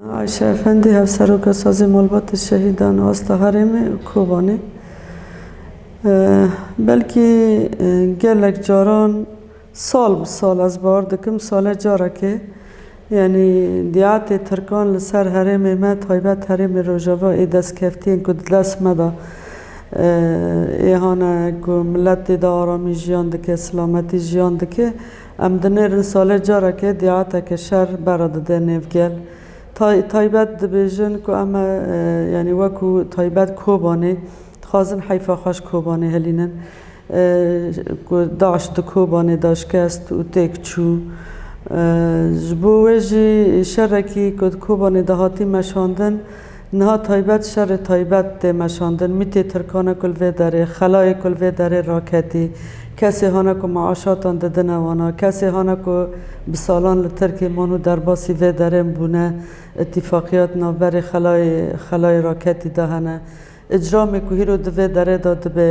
Ayşe Efendî, Hevseroka Sazê Malbatê Şehîdan û Asta Herêmê û Kobanê, Belkî gelek caran sal bi sal ez bawer dikim sale carekê yanî diyatê tirkan li ser herêmê me taybet herêmê Rojava ê destkeftiyên ku di dest me de ê hane ku milet tê de aramî jiyan dike, silametî jiyan dike. Em dinêrin salê careke dîateke şer bera dide nêv gel. Tay, taybet dibêjin ku em yanî weku taybet Kobanê dixwazin heyfa xweş Kobanê helînin. Ku DAIŞ di Kobanê de şikest û têk çû. Ji bo wê jî şerekî ku di Kobanê de hatî meşandin, Niha taybet şerê taybet tê meşandin, mîtê Tirkan e ku li vê derê, xelayê ku li vê derê raketî, kesê hane ku meaşatan didine wana, kesê hane ku bi salan li Tirkiyê man û derbasî vê derên bûne, îtîfaqiyat navberê xelayê xelayê raketî de hene. Îcramê ku hîro di vê derê de dibe,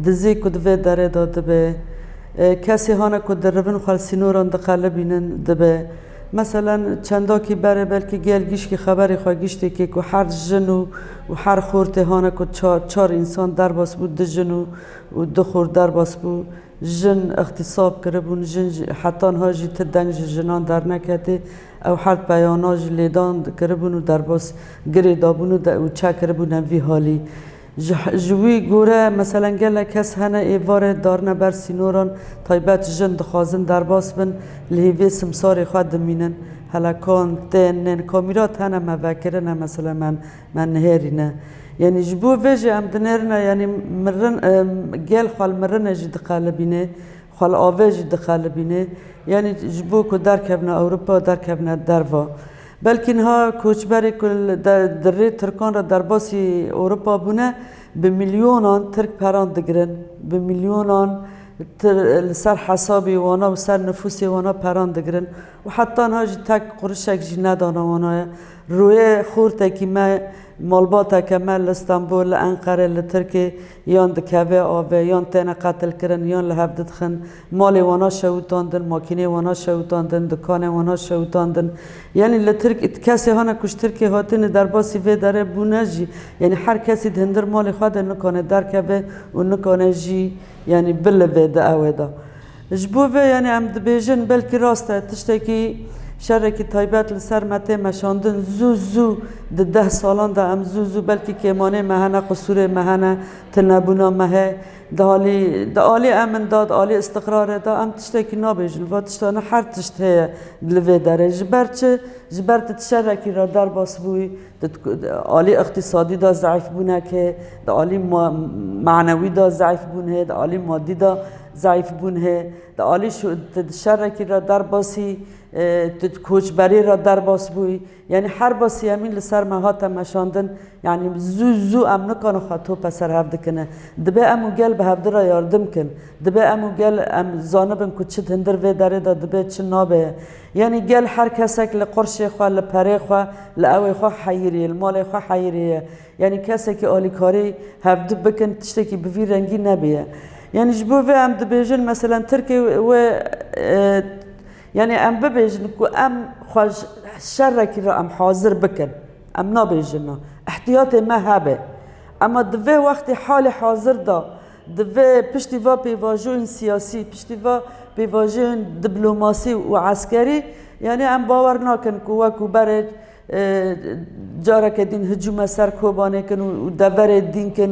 dizî ku di vê derê de dibe, kesê hane ku di rivin xwel sînoran diqelibînin dibe. Meselen çendakî berê belkî gel gîşkî xeberê xwe giştê kê ku her jin û û her xortê hane ku çar çar însan derbas bû du jin û û du xort derbas bû. Jin îxtîsab kiribûn, jin jî heta niha jî ti deng ji jinan derneketê. Ew her peyana ji lêdan dikiribûn û derbas girê dabûn û de û çek kiribûne vî halî. Ji ji wî gore meselen gelek kes hene êvarê darine ber sînoran, taybet jin dixwazin derbas bin li hêvê simsarê xwe dimînin. Helekan, tên, nên kamîrat hene me vekirine meselen me me nihêrîne. Yanî ji bo vê jî em dinêrine yanî mirin gel xwe li mirinê jî diqelibînê. Xwe li avê jî dixelibîne. Yanî ji bo ku derkevne Ewropa û derkevne derva. Belkî niha koçberê ku di rê Tirkan re derbasî Ewropa bûne, bi milyonan Tirk peran digirin. Bi milyonan li ser hesabê wana û ser nifûsê wana peran digirin. Û heta niha jî tek qurişek jî nedane wana. Rûyê xortekî me, malbateke me li Stenbol, li Enqere, li Tirkê Yan dikeve ave, yan têne qetilkirin, yan li hev didixin, malê wana şewitandin, makîneyê wana şewitandin, dikanên wana şewitandin. Yanî li Tirk kesê hane kuş Tirkê hatine derbasî vê derê bûne jî yanî her kesî di hindir malê xwe de nikane derkeve û nikane jî yanî bilive di ewe de. Ji bo vê yanî em dibêjin belkî rast e tiştekî şerekî taybet li ser me tê meşandin zû zû di deh salan de em zû zû belkî kêmanê me hene, qisûrê me hene, tunebûna me heye. Di alî di alî emin de, di alî îstiqrarê de em tiştekî nabêjin. Va tiştane her tişt heye li vê derê. Ji ber çi? Ji ber tu ti şerekî re derbas bûyî. Di alî iqtîsadî de zeîf bûn heke, di alî manewî de zeîf bûn hê, di alî madî de zeîf bûn hê, di alî şerekî re derbasî tu di koçberî re derbas bûyî. Yanî her basî em î li ser me hate meşandin yanî zû zû em nikane xwe tope ser hev dikine. Dibe em û gel bi hevdira yardim kin. Dibe em û gel em zanibin ku çi hindir vê derê de dibe çi nabe ye. Yanî gel her kesek li qirşê xwe, li perê xwe, li ewê xwe heyîrî ye, li malê xwe heyîrî ye. Yanî kesekî alîkarî hevdu bikin tiştekî bi vî rengî nebûye. Yanî ji bo vê em dibêjin meselen Tirkê wê yanî em bibêjin ku em xwe ji şerekî re em hazir bikin. Em nabêjin na. Îhtiyatê me hebe. Ema di vê wextê halê hazir de. Divê piştî va pêvajoyên siyasî, piştî va pêvajoyên diplomasî û eskerî yanî em bawer nakin ku wek û berê careke dîn hicûme ser Kobanê kin û deverê dîn kin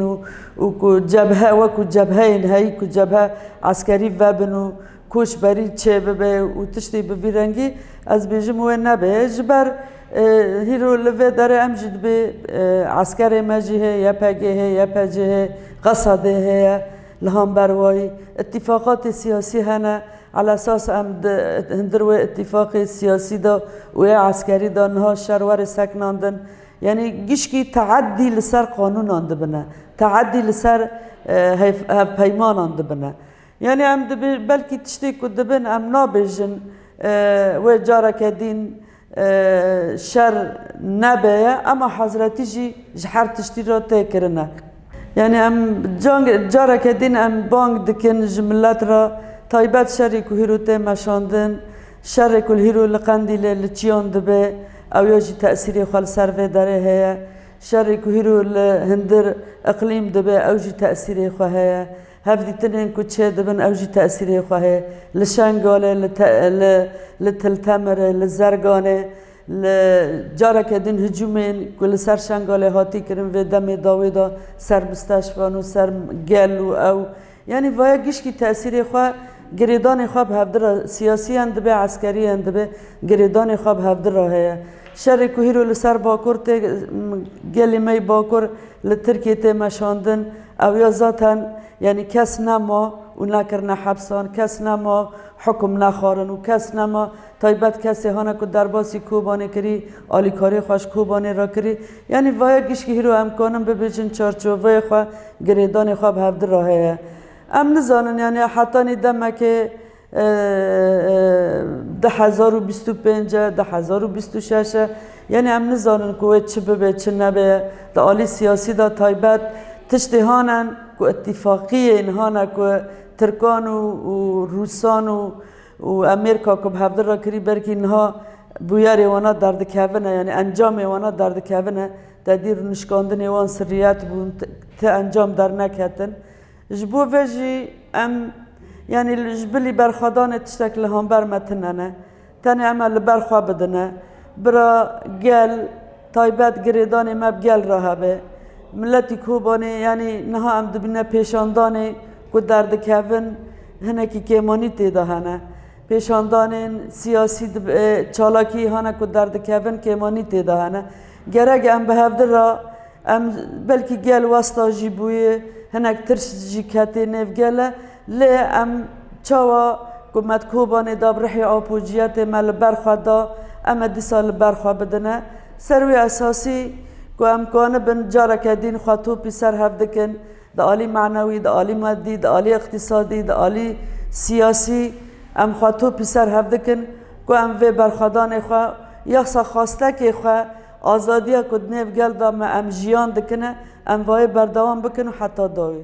û ku cebhe wek û cebheyên heyî ku cebhe eskerî vebin û Koçberî çê bibe û tiştê bi vî rengî ez bêjim wê nebe ji ber hîro li vê derê em jî dibê eskerê me jî hê YPG hê YPC hê Qesadê heye li hamber wayî îtîfaqatê siyasî hene ala esas em di hindir wê îtîfaqê siyasî de û ê eskerî de niha şer were seknandin yanî gişkî teedî li ser qanûnan dibine teedî li ser hevpeymanan dibine. Yanî em dibê belkî tiştê ku dibin em nabêjin wê careke dîn şer nebeye ema hezretî jî ji her tiştî re tê kirine. Yanî em careke dîn em bang dikin ji milet re taybet şerî ku hîro tê meşandin, şerê ku hîro li Qendîlê li çiyan dibe ew ya jî tesîrê xwe li ser vê derê heye, şerê ku hîro li hindir, iqlîm, dibe ew jî tesîrê xwe heye. Hevdîtinên ku çêdibin ew jî tesîrê xwe heye li Şengalê, li Tiltemirê, li Zerganê, li careke din hicûmên ku li ser Şengalê hatî kirin vê demê dawê da ser misteşfan û ser gel û ew. Yanî vaya gişkî tesîrê xwe girêdanê xwe bi hevdî ra siyasî yan dibe eskerî yan dibe girêdanê xwe bi hevdî ra heye. Şerê ku hîro li ser bakur tê gelê me yê bakur li Tirkiyê tê meşandin, Ew ya zaten yanî kes nema û nekirine hepsan, kes nema hukm nexwarin û kes nema taybet kesê hane ku derbasî Kobanê kirî, alîkarê xwe ji Kobanê re kirî. Yanî vaya gişkî hîro em kanin bibêjin çarçoveyê xwe, girêdanê xwe bi hevdira heye. Em nizanin yanî hetanî demekê Di hezar û bîst û pênc e, di hezar û bîst û şeş e, yanî em nizanin ku wê çi bibe çi nebe ye. Di alî siyasî de taybet tiştê hane ku îtîfaqiyên hane ku tirkan û rûsan û û Amerîka ku bi hevdil re kirî belkî niha bûyerê wana derdikevin e yanî encamê wana derdikevin e. Te dî nişkandinê wan sirriyet bûn ti encam derneketin. Ji bo vê jî em yanî ji bilî berxwedanê tiştek li hember me tune ne. Tenê em e li ber xwe bidine. Bira gel, taybet girêdanê me bi gel re hebe. Miletî Kobanê yanî niha em dibîne pêşandanê ku derdikevin hinekî kêmanî tê de hene. Pêşandanên siyasî çalakî hene ku derdikevin kêmanî tê de hene. Gerek e em bi hevdil re Em belkî gel westa jî bûye, hinek tirs jî ketê nêv gele lê em çawa ku me di Kobanê de bi rihê apociyetê me li ber xwe da em ê dîsa li ber xwe bidine. Ser wî esasî ku em kanibin careke dîn xwe topî ser hev dikin di alî manewî, di alî madî, di alî îqtîsadî, di alî siyasî em xwe topî ser hev dikin ku em vê berxwedanê xwe, yahsa xastekê xwe Azadiya ku di nêv gel de me em jiyan dikin e, em vayê berdewam bikin û heta dawî.